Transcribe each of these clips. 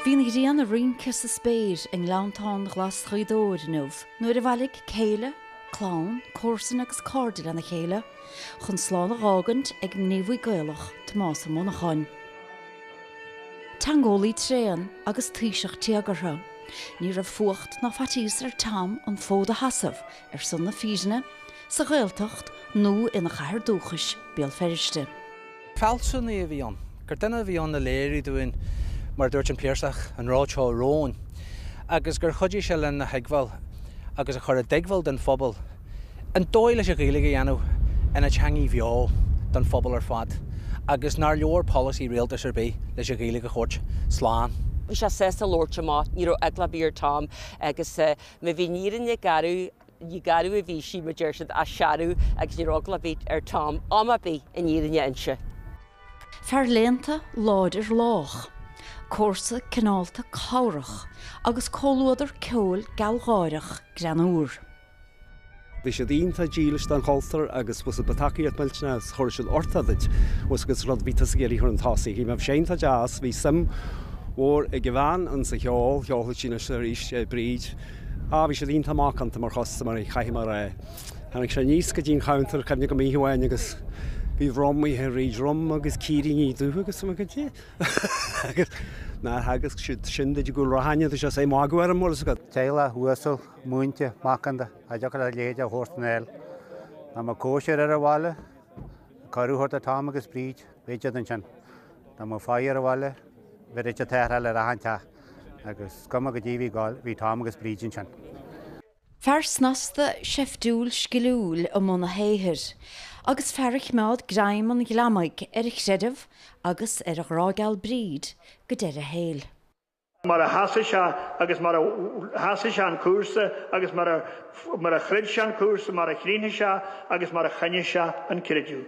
Bhí an ghrian ag rince sa spéir i ngleanntáin ghlas Ghaoth Dobhair inniu nuair a bhailigh céile, clann, comharsain agus cairde lena chéile chun slán a dh'fhágaint ag gníomhaí Gaelach, Tomás Ó Monacháin. Teangeolaí tréan agus taoiseach téagartha, ní raibh fuacht ná faitíos ar Tom an fód a shasamh ar son na fírinne, sa Ghaeltacht nó ina chathair dúchais, Béal Feirste. fealsúnaí a bhí ann, gur duine a bhí ann a léirigh dúinn, mar a dúirt an Piarsach, an ród seo romhainn, agus gur chuidigh sé linn a thuigbheáil agus a chur i dtuigbheáil don phobal an dóigh leis an Ghaeilge a dhéanamh ina teangaidh bheo don phobal ar fad agus nár leor polasaí rialtais ar bith leis an Ghaeilge a thabhairt slán. Bhí sé sásta labhairt amach, ní raibh eagla ar bith ar Tom agus má bhí an fhírinne garbh. Ní garbh a bhí sí, mar deir siad, ach searbh agus ní raibh eagla ar bith ar Tom am ar bith an fhírinne a inse. Fear léannta, láidir, lách. Comharsa cineálta, cabhrach, agus comhluadar ceoil gealgháireach greannúr. Bhí siad iontach dílis don chultúr agus bhfuil a fhios agat, ba tacaíocht mhillteanach agus thabharfadh sin uchtach duit, bhfuil a fhios agat, agus rud a bhí tusa ag iarraidh a chur chun tosaigh bhí mé bhí sé iontach deas bhí suim mhór ag a bhean ins an cheol cheolfadh sí anois is arís Bríd Ah, bhí siad iontach macánta mar chustaiméirí, caithfidh mé a rá. Tháinig sé aníos go dtí an chabhantar, cuimhním go maith uair amháin agus bhí rum a dhíth ar Bhríd, rum agus cuiríní dubha agus rud éigin eile acu. Agus nár theagasc siad sin duit i gCúil Raithin, agus é ag magadh orm, bhfuil a fhios agat. Teaghlach uasal, múinte, macánta, a dtiocfadh leat leithéid a thabhairt in aer. Dá mbeadh cóisir ar an bhaile, cuireadh thart do Tom agus Bríd, bheadh siad ansin. Dá mbeadh faire ar an bhaile, bheadh siad ag tarrtháil ar achan teach. Agus is cuma caidé a bhí ag gabháil, bhí Tom agus Bríd ansin. Fear snasta, seiftiúil, sciliúil i mbun a shaothair. Agus fear a chimeád greim an ghliomaigh ar a chreideamh agus ar a ghrá geal Bríd go deireadh a shaoil. Mar a sheasaigh sé agus mar a sheasaigh sé an cúrsa agus mar a throid sé an cúrsa, mar a chríochnaigh sé agus mar a choinnigh sé an creideamh.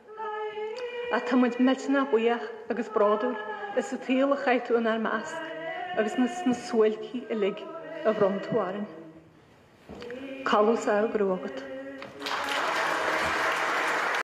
Ach tá muid millteanach buíoch agus bródúil as an tsaol a chaith tú inár measc agus as na suáilcí uilig a bhronn tú orainn. Codladh sámh go raibh agat.